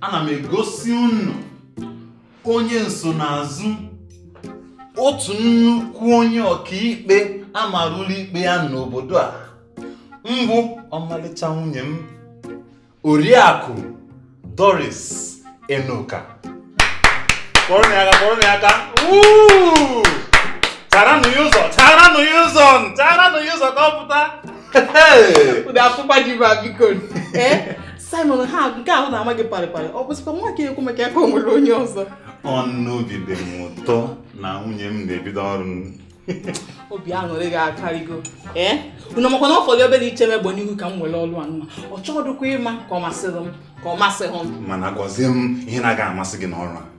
ana m egosi unu onye nsonaazụ otu nnukwu onye ọkaikpe amara ụlọikpe ya n'obodo a mbụ ọmalịcha nwunye m oriakụ doris enoka kụọrọ ya aka kụọrọ ya aka Woo! charanụ ya ụzọ charanụ ya ụzọ charanụ ya ụzọ ka ọ pụta Hey! Ụdị afụkpa ji ba biko. Eh? Simon ha nke ahụ na-ama gị parịparị ọ bụzikwa nwa ka ekwu maka ya ka o nwere onye ọzọ ọnụ obi dị m ụtọ na nwunye m na-ebido ọrụ obi aṅụrị gị akarịgo ee eh? unu makwa na ọ fọdụ obere iche m egbe n'ihu ka m were ọrụ a nwa ọ chọọdụkwa ịma ka ọ masịrị m ka ọ masịghị m mana gwazie m ihe na-aga amasị gị n'ọrụ a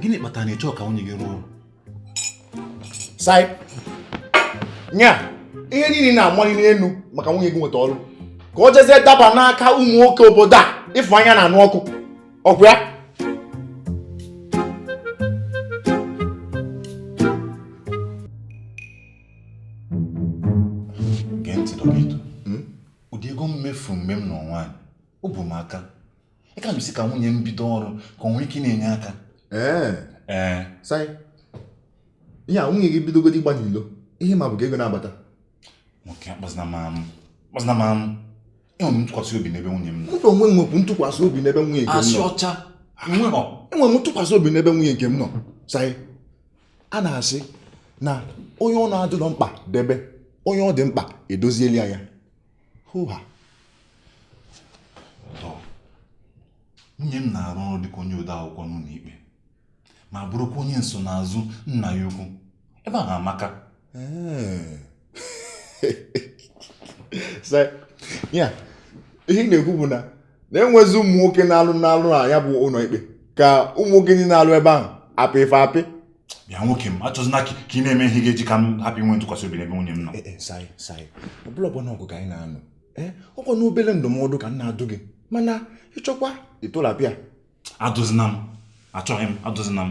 gịnị kpatara na ị chọ ka nwunye gị rụọ ọrụ sai nya ihe niile na-amali n'elu maka nwunye gị nweta ọrụ ka o jezie daba n'aka ụmụ nwoke obodo a ịfụ anya na-anụ ọkụ ọkwa ya gee ntị dọkịta ụdị ego m mefuru mgbe m nụ nwaanyị o bụ m aka ya ka m ji sị ka nwunye m bido ọrụ ka o nwee ike na-enye aka ee ee sai ihe a nwunye gị bidogodi ịgba n'ilo ihe m ma bụ ka ego na-abata nwoke akpazina m amụ akpazina m amụ enwere m ntụkwasị obi n'ebe nwunye m nọ mụ na onwe m nwekwu ntụkwasị obi n'ebe nwunye nke m nọ asị ọcha enwere m enwere m ntụkwasị obi n'ebe nwunye nke m nọ sai a na-asị na onye ọ na-adịrọ mkpa debe onye ọ dị mkpa edoziela ya hoha nwunye m na-arụ ọrụ dịka onye ode akwụkwọ n'ụlọ ikpe ma bụrụkwa onye nsonaazụ nna ya ukwu ebe ahụ amaka ya ihe ị na-ekwu bụ na na enwezi ụmụ nwoke na-alụ na-alụ na ya bụ ụlọ ikpe ka ụmụ nwoke ndị na-alụ ebe ahụ a pị fa apị bịa nwoke m achọzina ka ị na-eme ihe ga-eji ka m hapụ inwe ntụkwasị obi n'ebe nwunye m nọ eh, eh, sai sai ọ bụrọ mgba na ọgụ ka anyị na-anụ eh, ọkwanụ obere ndụmọdụ ka m na-adụ gị mana ị chọkwa ịtụlapịa adụzina m achọghị m adụzina m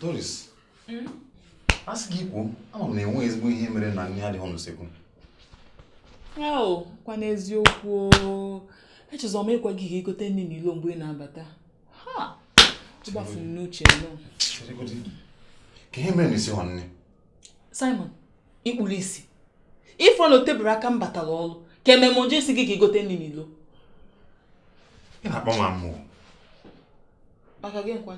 Doris hmm? a sị gị kwuo ama m na enwe ezigbo ihe mere na nri adịghị n'usekwu kwa n'eziokwu echezọ m ịgwa gị ka ị gote nri n'ilo mgbe ị na-abata ọ gbafuru m n'uche nọ ka ihe mere na i sighị nri Simon ikpuru isi ifuru na oteburu aka m batara ọrụ ka emere m ji sị gị ka igote nri n'ilo ị na-akpa m amụ maka gịnị kwa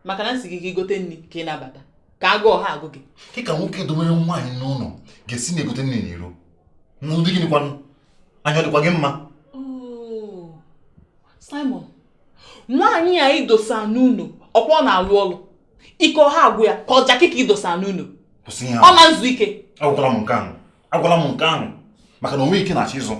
maka na m sị gị ka igote nri ka ị na-abata ka agụụ ọ ha agụ gị kee ka nwoke dowere nwaanyị n'ụlọ ga-esi na-egote nri n'iro na ụdị gịnị kwanụ anya ọ dịkwa gị mma Oh, Simon nwaanyị a idosa n'ụlọ ọkwa ọ na-alụ ọrụ ike ọ ha agwụ ya ka ọ jakị ka idosa n'ụnọ ọ na nzu ike agwala m nke ahụ agwala m nke ahụ maka na o nwe ike ị na-achọ izu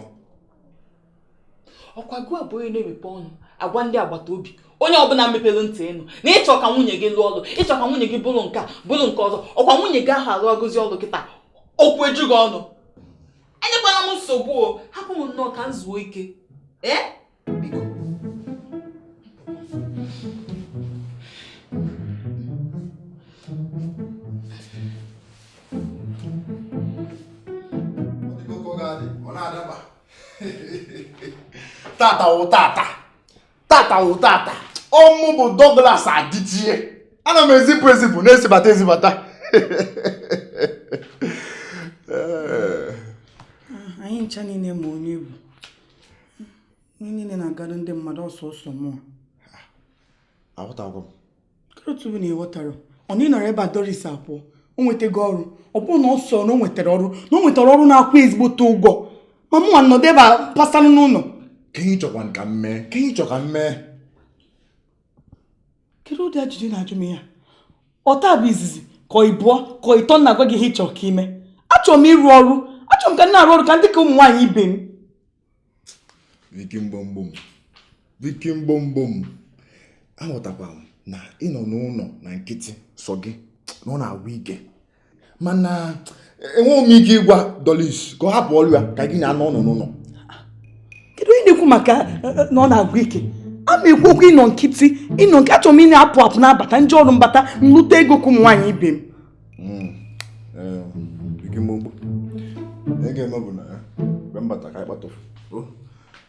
ọkwa gụwa bụ onye na-emepe ọnụ agwa ndị agbata obi onye ọbụla mepere ntị ịnụ na ịchọ ka nwunye gị lụọ ọlụ ịchọ ka nwunye gị bụrụ nke a bụrụ nke ọzọ ọkwa nwunye gị ahụ arụgozi ọlụ kịta okwu eju gị ọnụ enyekwala m nsogbu o hapụ m nnọọ ka m zuo ike ee tata wụ tata tata wụ tata ọ mụ bụ Douglas Adichie ana m ezipụ ezipụ na-ezibata ezibata anyị ncha niile ma onye ị bụ ihe niile na-agara ndị mmadụ ọsọ ọsọ mụ aghọtago m kedu otu bụ na ị ghọtara ọ na ị nọrọ ebe a Doris apụ o nwetago ọrụ ọ bụrọ na ọ sọ na o nwetara ọrụ na o nwetara ọrụ na-akwụ ezigbote ụgwọ ma mụ nwa nọdụ ebe a pasanụ n'ụlọ kee ihe ị chọkwa ka m mee kee ihe ị chọ ka m mee kedu ụdị ajụjụ ị na-ajụ m ya ọ taa bụ izizi ka ịbụọ ka ịtọ m na-agwa gị ihe ịchọ ka ime achọrọ m ịrụ ọrụ achọrọ m ka m na-arụ ọrụ ka ndị ka ụmụ nwaanyị ibe m Vicky mgbomgbom Vicky mgbomgbom aghọtakwa m na ịnọ n'ụlọ na nkịtị sọ gị na ọ na-agwụ ike mana enweghị m ike ịgwa Doris ka ọ hapụ ọrụ ya ka gị na ya nọ ọnụ n'ụlọ kedu onye na-ekwu maka eh, eh, na ọ na-agwụ ike a ma ekwu okwu ịnọ nkịtị ịnọ nke achọrọ m ị na-apụ apụ na-abata m je ọrụ m bata m lụta ego ka ụmụ nwaanyị ibe m hmm. ihe ga-eme bụ na mgbe m bata ka anyị kpatụrụ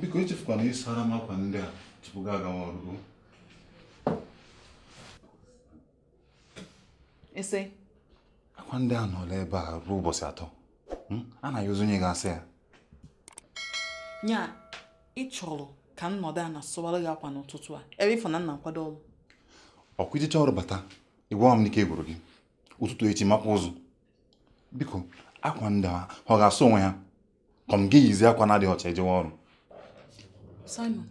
biko echefukwana ịsara m akwa ndị a tupu gị agawa ọrụ ese akwa ndị a anọọla ebe a ruo ụbọchị atọ hmm? a na-ayọzi onye ga-asa ya nya ị chọrọ ka m nọdụ ana sụwara gị akwa n'ụtụtụ a ebe ịfụ na m na-akwado ọrụ ọkwa ijecha ọrụ bata ịgwa m na ike gwụrụ gị ụtụtụ echi makwa ụzọ biko akwa ndị a ọ ga-asụ onwe ha ka m ga-eyizi akwa na-adịghị ọcha ejewe ọrụ Simon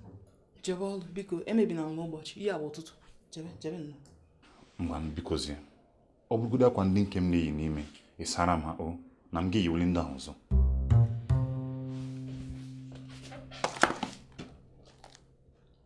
jebe ọrụ biko emebina m ụbọchị ihe a bụ ụtụtụ jebe jebe nna ngwa bikozie ọ bụrụgodo akwa ndị nke m na-eyi n'ime ị sara m ha o na m ga-eyiwuli ndị ahụ ọzọ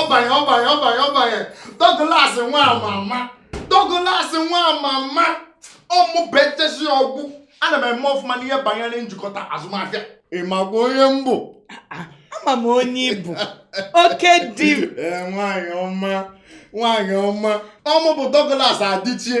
ọbanye ọbanye ọbanye ọbanye Douglas nwa mama Douglas nwa mama ọ mụ bụ echesi ọgwụ ana m eme ọfụma n'ihe banyere njikọta azụmahịa ị makwa onye m bụ ama m onye ị bụ oke di m Ee, nwaanyị ọma nwaanyị ọma ọ mụ bụ Douglas Adichie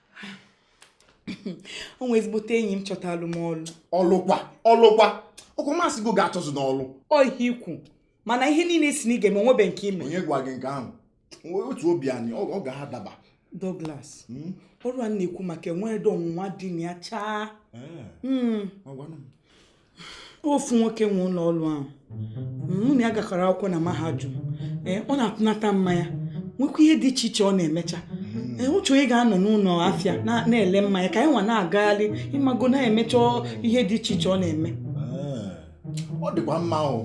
o nwee ezigbote enyi m chọtalụ m ọlụ ọlụkwa ọlụkwa ọkwa m asịgo gị achọzina ọlụ ọ ihe i kwu mana ihe niile ị sị na ị ga-eme o nwebe nke i me onye gwa gị nke ahụ wetuo obi anị ọ ga-adaba Douglas hmm? ọrụ a m na-ekwu maka enweredo ọnwụnwa dị na ya chaa hmm. ofu nwoke nwe ụlọ ọrụ ahụ mụ na ya gakọrọ akwụkwọ na mahadum ee ọ na-atụnata mmanya nwekwa ihe dị iche iche ọ na-emecha ee ọ chọ onye ga-anọ n'ụlọ afịa na- na-ele mmanya ka nya nwa na-agagharị ị mago na-emecha ihe dị iche iche ọ na-eme ọ dịkwa mma ahụ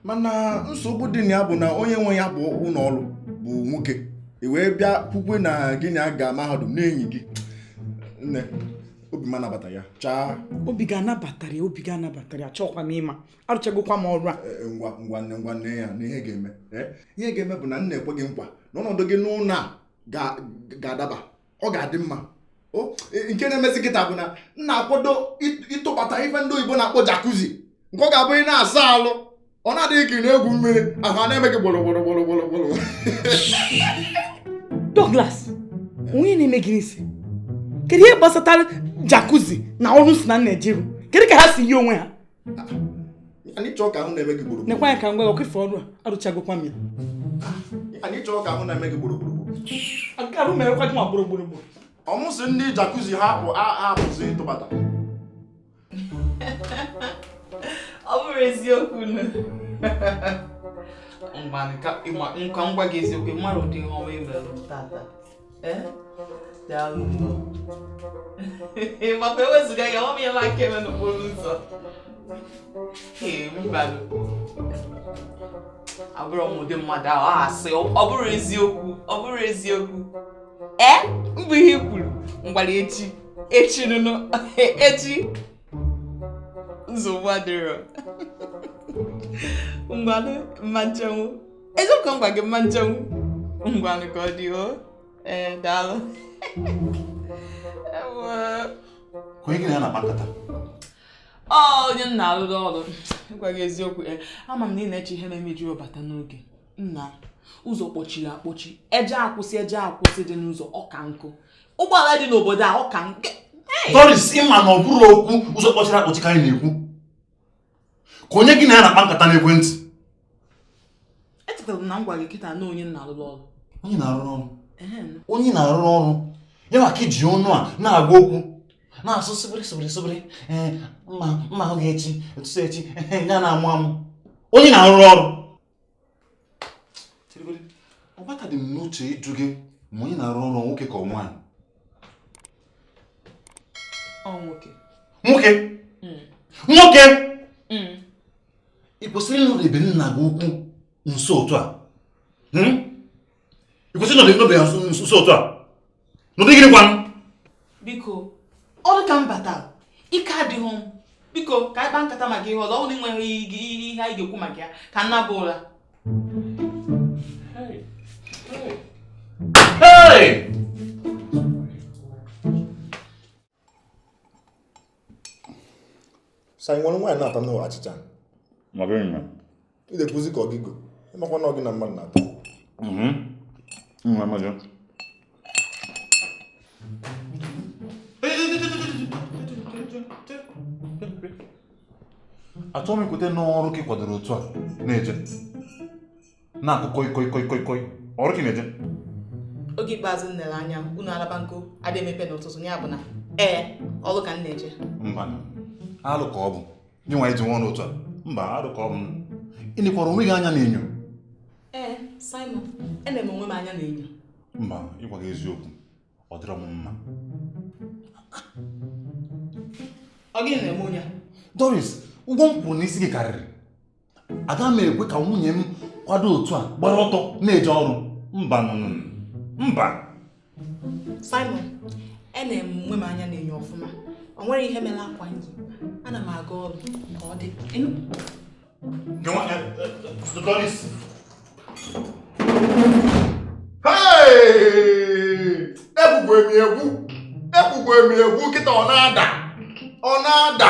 mana nsogbu dị na ya bụ na onye nwe ya bụ ụlọ ọrụ bụ nwoke i wee bịa kwukwe na gị na ya ga mahadum na enyi gị nne obi m anabata ya chaa obi gị anabatarọ ya obi gị anabatarọ ya chọọkwa m ịma arụchagokwa m ọrụ a e, e, ngwa ngwa nne ngwa nne ya na ihe ga-eme e, ihe ga-eme bụ na m na-ekwe gị nkwa na ọnọdụ gị n'ụlọ a ga-adaba ọ ga-adị mma nke na-emezi kịta bụ na m na-akwado ịtụbata ife ndị oyibo na-akpọ jakuzi nke ọ ga-abụ ị na-asa alụ ọ na-adị gị ka ị na-egwu mmiri ahụ a na-eme gị gbọrọ gbọrọ gbọrọ gbọrọ gbọrọ Douglas o nwe ihe na-eme gị n'isi kedu ihe gbasatara jacuzzi na ọrụ m sị na m na-eje ịrụ kedu ka ha si yi onwe ha anyị chọọ ka ahụ na-eme gị gboro nekwa ya ka m gwa ọkụ ife ọrụ a arụchagokwa m ya anyị chọọ ka ahụ na-eme gị gboro gboro nke arụ merekwa gị ma gboro gboro gboro ọ mụ sị ndị jacuzzi ha bụ a- a apụzi ịtụbata ọ bụrụ eziokwu nna ka m gwa gị eziokwu mara ụdị ihe ọma i melụ tata daalụ maka ewezuga ya ọ mịala aka eme n'okporo ụzọ ee mbanụ abụrọ m ụdị mmadụ ahụ a asị ọ bụrụ eziokwu ọ bụrụ eziokwu ee mbụ ihe i kwuru mgbara echi echi nwanne echi nsogbu adịrọ ngwanụ mma nchenwu eziokwu ngwa gị mma nchenwu ngwanụ ka ọ dị o ee daalụ onye gị na ya na-akpa nkata ọ onye m na-alụrụ ọrụ ịgwa gị eziokwu ama m na ị na-eche ihe na-emeju bata n'oge nna ụzọ kpọchiri akpọchi eje akwụsị eje akwụsị dị n'ụzọ ọka nkụ ụgbọala dị n'obodo a ọka nke Doris ị ma na ọ bụrọ okwu ụzọ kpọchiri akpọchi ka anyị na-ekwu ka onye gị na ya na-akpa nkata n'ekwentị echetara m na m gwara gị kịta na ọ onye m na-arụrụ ọrụ onye ị na-arụrụ ọrụ onye ị na-arụrụ ọrụ ya ka ị ji ọnụ a na-agwa okwu na-asụ sịbịrị sịbịrị sịbịrị mma mma ahụ gị echi ụtụtụ echi ya na-amụ amụ onye ị na-arụrụ ọrụ ọ batadị m n'uche ịjụ gị ma onye ị na-arụrụ ọrụ ọ nwoke ka ọ nwaanyị nwoke nwoke hmm. nwoke hmm. ị kwesịrị ịnọdebe nna gị ukwu nso otu a hmm? ị kwesịrị ịnọdebe ya nso otu a n'ụdị gịnị kwanụ biko ọrụ ka m bata ike adịghị m biko ka anyị kpaa nkata maka ihe ọzọ ọ bụrụ na enweghị ihe anyị ga-ekwu maka ya ka m naba ụra Hey! sa ị nwere nwaanyị na-ata n'ụlọ achịcha ị na-ekwuzi ka ọ gị go ị makwa na ọ gị na mmadụ na-ata mhm. achọghị m ikweta na ọ ọrụ ka ị kwadoro otu a na-eje na-akụ koi koi koi koi ọrụ ka ị na-eje oge ikpeazụ m lere anya ụnọ a na-agba nkwa adị emepe n'ụtụtụ ya bụ na ee ọrụ ka m na-eje mba alụ ka ọ bụ nye nwa iji nwa ọnụ otu a mba alụ ka ọ bụ ị nekwara onwe gị anya n'enyo ee Simon ene m onwe m anya n'enyo mba ịgwa gị eziokwu ọ dịrọ m mma ọ gịnị na-eme onye a Doris ụgwọ m kwụrụ n'isi gị karịrị aga m ekwe ka nwunye m kwado otu a gbara ọtọ na-eje ọrụ mba mba Simon ene m onwe m anya n'enyo ọfụma o nwere ihe mere akwa m yi ana m aga ọrụ ka ọ dị ekwukwa m ekwu ekwukwa m ekwu kịta ọ na-ada ọ na-ada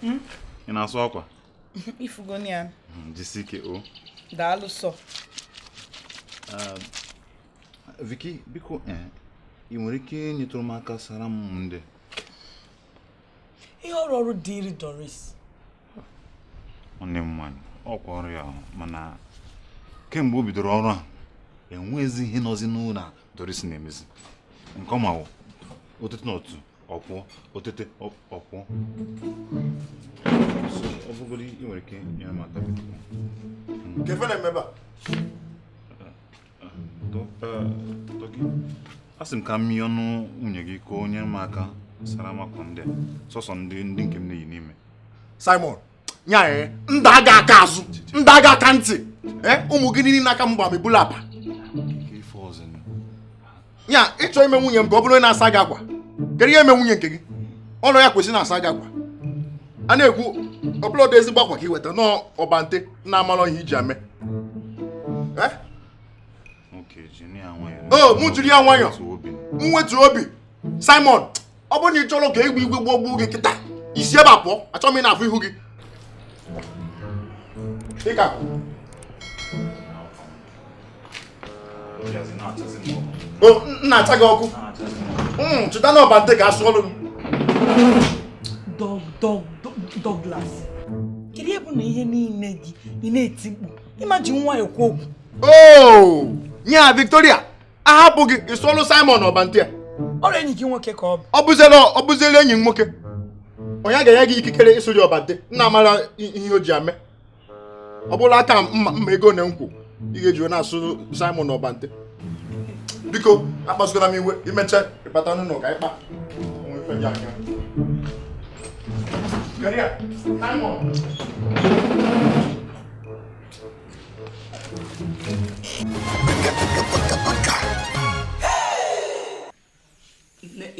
Hmm? ị na-asụ akwa ị fugoni ya hmm, jisi ike o daalụ sọ ah, Vicky biko eh, ị nwere ike nyetụrụ m aka sara m ndị ihe ọrụ ọrụ dịịrị Doris nwanne m nwaanyị ọ kwa ọrụ ya mana kemgbe o bidoro ọrụ a enweghịzi ihe nọzi n'ụlọ Doris na-emezi nke ọ ma wụ o tete na otu ọkwụ o tete ọkwụ ọ bụgoro ị nwere ike nyere m aka kee ife na-eme ebe a Dougie a sị m ka m rịọnụ nwunye gị ka o nyere m aka sara m akwa ndị a sọsọ ndị ndị nke m na-eyi n'ime Simon nya ee eh, ndị aga aka azụ ndị aga aka ntị ee eh, ụmụ gị niile n'aka m gbam ebula apa nya ị chọ ime nwunye m ka ọ bụrụ onye na-asa gị akwa kedu ihe mee nwunye nke gị ọ bụlọ ya kwesịrị na-asa gị akwa a na-ekwu ọ bụlọdụ ezigbo akwa ka i weta n'ọbante na-amalọ ihe i ji ya eme eh? o mụ jiri ya nwayọ m wetu obi Simon ọ bụrụ na ị chọrọ ka egbe igwe gbọgbuo gị kịta i si ebe a pụọ achọghị m ị na-afụ ihu gị ịka o na-acha gị ọkụ hmm, chịta na ọbante ka a sụọlụ Douglas kedu ihe bụ na ihe niile gị ị na-eti mkpu ị ma ji nwayọ ekwu okwu oh! nya Victoria a hapụ gị ị sụọlụ Simon ọbante a ọ bụrọ enyi gị nwoke ka ọ bụ ọ bụziela ọ bụziela enyi m nwoke ọ ya ga-enye gị ikikere ịsụlị ya ọbante nna amara i- ihe o ji ya eme ọ bụrụ aka mma mma ego na nkwụ ị ga-eji na-asụ Simon ọbante biko akpasukwana m iwe i mecha ị bata n'ụlọ ka anyị kpa o nwe ife dị aka. Kedu ya? Simon.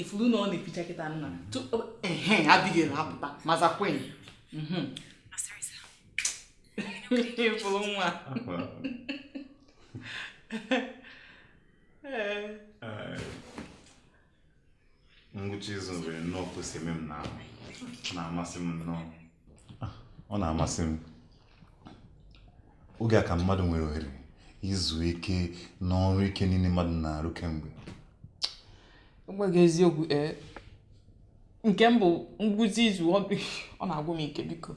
ị furu na ọ na-eficha kịta nna ehe Abigail apụta maza Queen ifuru nwa ngwụcha izu nwere nnọọ ka o si eme m na na-amasị m nnọọ ah, ọ na-amasị m oge a ka mmadụ nwere ohere izu ike n'ọrụ ike niile mmadụ na-arụ kemgbe gị eziokwu ee eh, nke m bụ ngwụsị izu ọ na-agwụ m ike biko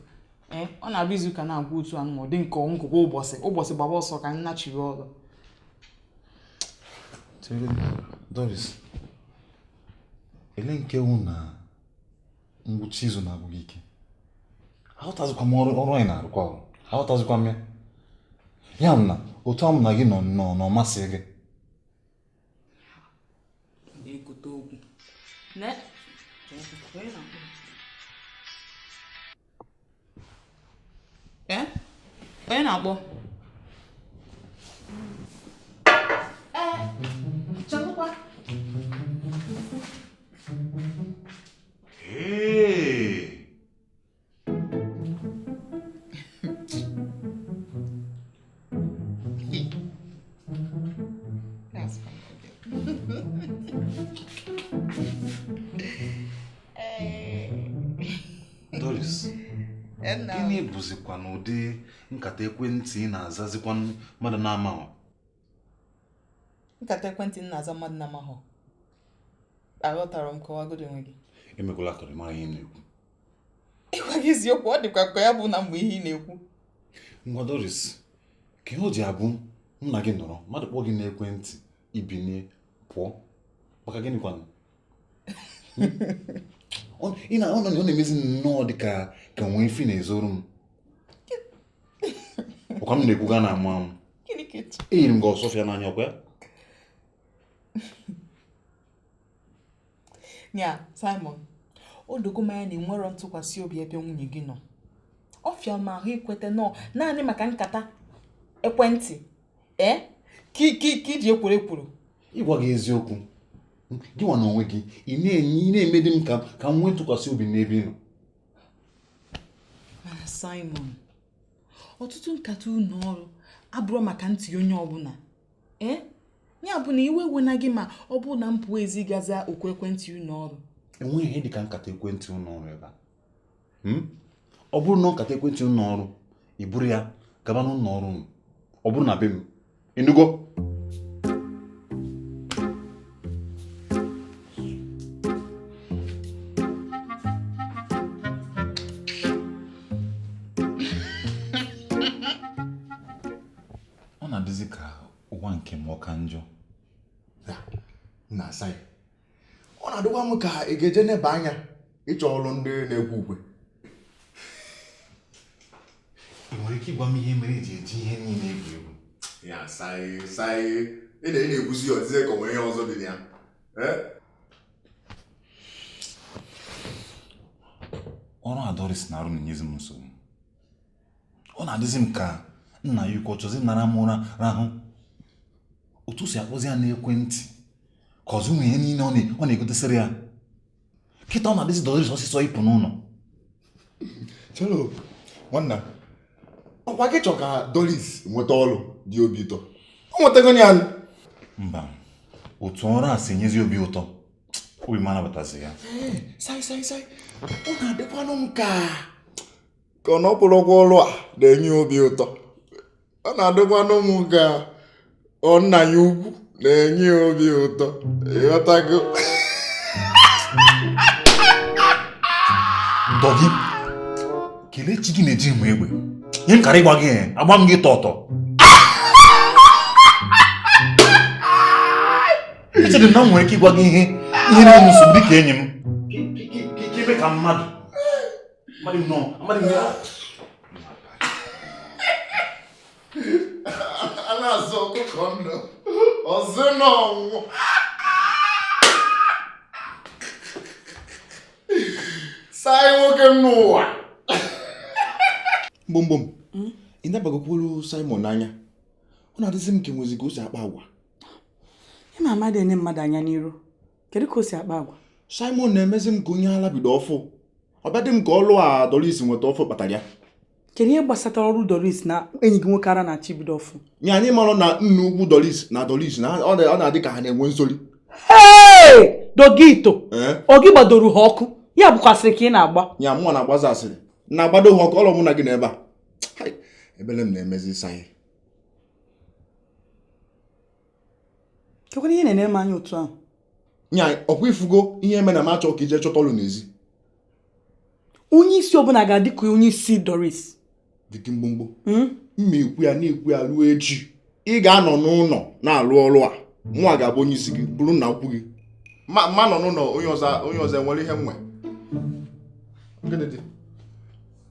ee eh, ọ na-abụ izu ka na-agwụ otu anụ ma ọ dị nke ọnwụ ụbọchị ụbọchị gbaba ọsọ ka m nachiri ọrụ Chere Doris, ele nke wụ na ngwụcha izu na-agwụ gị ike aghọtazikwa m ọrụ anyị na-arụkwa ọrụ aghọtazikwa m ya m na otu a m na gị nọ nnọọ na-amasị gị na-ekote okwu na ee eh? onye na-akpọ eh, chọkwa That's fine. Doris, gịnị bụzikwanụ ụdị nkata ekwentị ị na-azazikwa mmadụ na-amaghọ? Nkata ekwentị m na-aza mmadụ na-amaghọ. Aghọtarọ m kọwagodo onwe gị. Emekwala ka ị marọ ihe m na-ekwu. ịgwa gị eziokwu ọ dịkwa ka ya bụ na mgbe ihe ị na-ekwu ngwa Doris kee ihe o ji abụ m na gị nọrọ mmadụ kpọọ gị n'ekwentị i binie pụọ maka gịnị kwanụ ị na ọ nọ ọ na-emezi nnọọ dị ka e nwee ife ị na-ezoro m ọkwa m na-ekwu gị ana-amụ amụ gịnị ka etu eyiri m gị Osuofia n'anya ọkwa ya ya Simon o dogo m anya na i nwerọ ntụkwasị obi ebe nwunye gị nọ ọ fịa m ahụ ikweta na ọ naanị maka nkata ekwentị ee eh? ka i ji ekworo ekworo ịgwa gị eziokwu gị nwa n'onwe gị ị na-emedi m ka m nwee ntụkwasị obi n'ebe ị nọ mana Simon ọtụtụ nkata ụlọ ọrụ abụrọ maka ntị onye ọbụla ee eh? ya bụ na iwe wena gị ma ọ bụrụ na m pụọ ezi ga-aza oku ekwentị ụlọ ọrụ enweghị ihe dịka nkata ekwentị ụlọ ọrụ ebe a hmm? ọ bụrụ na ọ nkata ekwentị ụlọ ọrụ i buru ya gaba n'ụlọ ọrụ unu ọ bụrọ na be m ị nụgo ọ na-adịzi ka ụwa nke m ọ ka njọ na-asa ya ọ na-adịkwa m ka ị ga-eje n'ebe anya ịchọ ọrụ ndị na-ekwe ukwe ị nwere ike ịgwa m ihe mere i ji eji ihe niile egwu egwu ya saị saị ị na-ekwuzi ya ọ dịzie ka o nwere ihe ọzọ dị na ya ọrụ a Doris na-arụ na-enyezi m nsogbu ọ na-adịzi m ka nna ya ukwu ọ chọzi ịnara m ụra rahụ otu o si akpọzi ya n'ekwentị ka ọzọ ụmụ ihe niile ọ na-egotesịrị ya kịta ọ na-adịzi doris ọsịsọ ịpụ n'ụlọ chelo nwanna ọkwa gị chọ ka doris nweta ọrụ dị obi ụtọ o nwetago ya mba otu ọrụ a si enyezi obi ụtọ obi m anabatazi ya sai sai sai ọ na-adịkwanụ m ka ka na ọ bụrọkwa ọrụ a na-enye obi ụtọ ọ na-adịkwanụ m ka ọ nna ya ukwu na-enye ya obi ụtọ ị ghọtago dọgị kelee chi gị na ejirọ m egbe ihe m kara ịgba gị eh, agba m gị tọtọ echere m na m nwere ike ịgwa gị ihe ihe na-enye m nsogbu dị ka enyi m ebe ka mmadụ mmadụ nọ mmadụ nọ a na-azọ ọkụkọ ndụ ọ zọwa ọnwụ sai nwoke m n'ụwa mgbomgbom i nebagokwuru Simon anya ọ na-adịzi m ka enwezi ka o si akpa agwa ị ma m adị ene mmadụ anya n'iru kedu ka o si akpa agwa simon na-emezi m ka onye ala bido ọfụ ọ bịa dị m ka ọlụ a doris nweta ọfụ kpatara ya kedu ihe gbasatara ọrụ doris na enyi gị nwoke ara na-achị bido ọfụ nye anyị mara na nna ukwu doris na doris na ọ na- ọ na-adị ka ha na-enwe nsori dogito ee ọ gị gbadoro ha ọkụ ya bụkwa asịrị ka ị na-agba ya mụnwa na-agbazi asịrị na-agbado ha ọkụ ọlụ mụ na gị n'ebe a Hai, ebele m na-emezi sai kekwanụ ihe ị na-ene m anya otu ahụ nya ọkwa ị fụgo ihe me na m achọ ka i je chọta ọlụ n'ezi onye isi ọbụla ga-adị ka onye isi doris dịdị mgbomgbo hmm? m ma ekwu ya na-ekwu ya ruo echi ị ga-anọ n'ụlọ na-alụ ọrụ a mụnwa ga-abụ onye isi gị bụrụ nna ukwu gị ma nọ n'ụlọ onye ọzọ enwere ihe nwe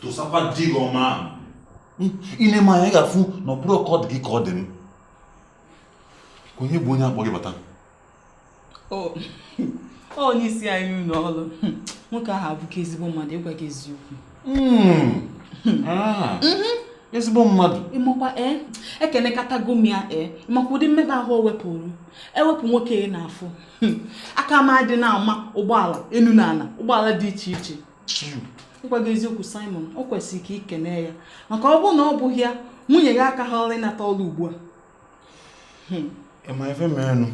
tụsakwa di gị ọma ahụ i nee m anya ị ga-afụ na ọ bụrọ ka ọ dị gị ka ọ dị m ka onye bụ onye akpọ gị bata onye isi anyị n'ụlọ ọrụ nwoke ahụ abụka ezigbo mmadụ ịgwa gị eziokwu hmm. ah. mhm. ezigbo mmadụ ịmakwa ee eh, ekenekatago m ya ee eh, ịmakwa ụdị mmekpa ahụ o wepụrụ ewepụ nwoke ị na-afụ hmm. aka m adị na-ama ụgbọala enu na ana ụgbọala dị iche iche hmm. ịgwa gị eziokwu Simon o kwesịrị ka i kene ya maka ọ bụrụ na ọ bụghị ya nwunye gị akaharọ ịnata ọrụ ugbu a hmm. ị ma ife merenụ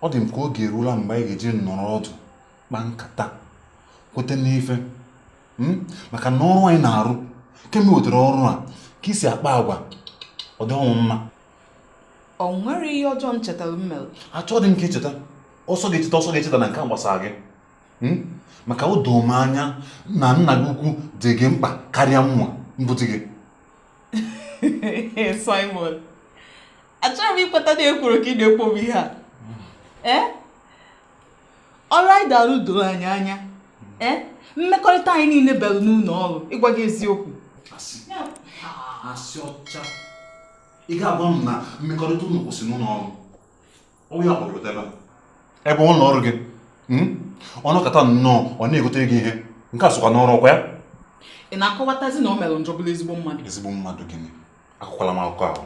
ọ dị m ka oge eruola mgbe anyị ga-eji nọrọ ọdụ kpaa nkata kwete n'ife hmm? maka na ọrụ a ị na-arụ kemgbe i wetara ọrụ a ka i si akpa agwa ọ dị ọnwụ mma o nwerọ ihe ọjọọ m chetara m mere achọghị m ka i cheta ọ sọ gị cheta ọ sọ gị echetana nke a gbasara gị hmm? maka o doo m anya na nna gị ukwu dị gị mkpa karịa nwa m bụ di gị Simon achọrọ m ikweta na ekworo ka ị na-ekwo bụ ihe a ee eh? ọrụ anyị na-arụ doro anyị anya ee eh? mmekọrịta anyị niine belu n'ụlọ ọrụ ịgwa gị eziokwu asị ọcha ị ga-agwa m na mmekọrịta unu kwụsị n'ụlọ ọrụ onye ọ kpọrọ ebe ebe ụlọ ọrụ gị hmm? ọ nọkata nnọọ ọ na-egotere gị ihe nke a sokwa n'ọrụ ọ kwa ya ị na-akọwatazi na o mere njọ bụrụ ezigbo mmadụ ezigbo mmadụ gịnị akọkwala m akụkọ ahụ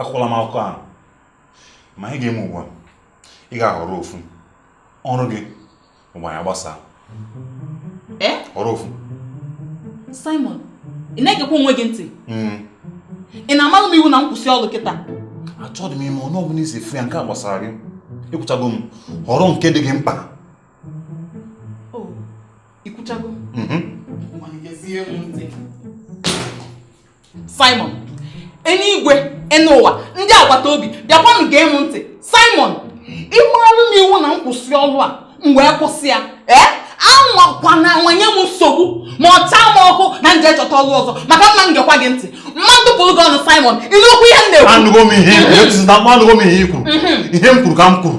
akọkwala m akụkọ ahụ ma ihe ị ga-eme ugbu a ị ga-ahọrọ ofu ọrụ gị ọ bụ anyị gbasaa eh? họrọ ofu Simon ị na-egekwa onwe gị ntị hmm. ị na-amalụ m iwu na m kwụsị ọrụ kịta achọghị m ịma otu ọbụla i si afụ ya nke a gbasara gị ekwuchago m họrọ nke dị gị mkpa i kwuchago mhm. Simon enuigwe enu ụwa ndị agbata obi bịakwanụ gee m ntị Simon ị maralụ m iwu na m kwụsị ọrụ a m wee kwụsị ya ee anwakwana anwa nye m nsogbu ma ọ taa m ọkụ na m je chọta ọrụ ọzọ maka na m ma gekwa gị ntị m ma atụpụrụ gị ọnụ Simon ị nụkwa ihe m na-ekwu anụgo m ihe anụgo m ihe i kwuru mhm. ihe m kwuru ka m kwuru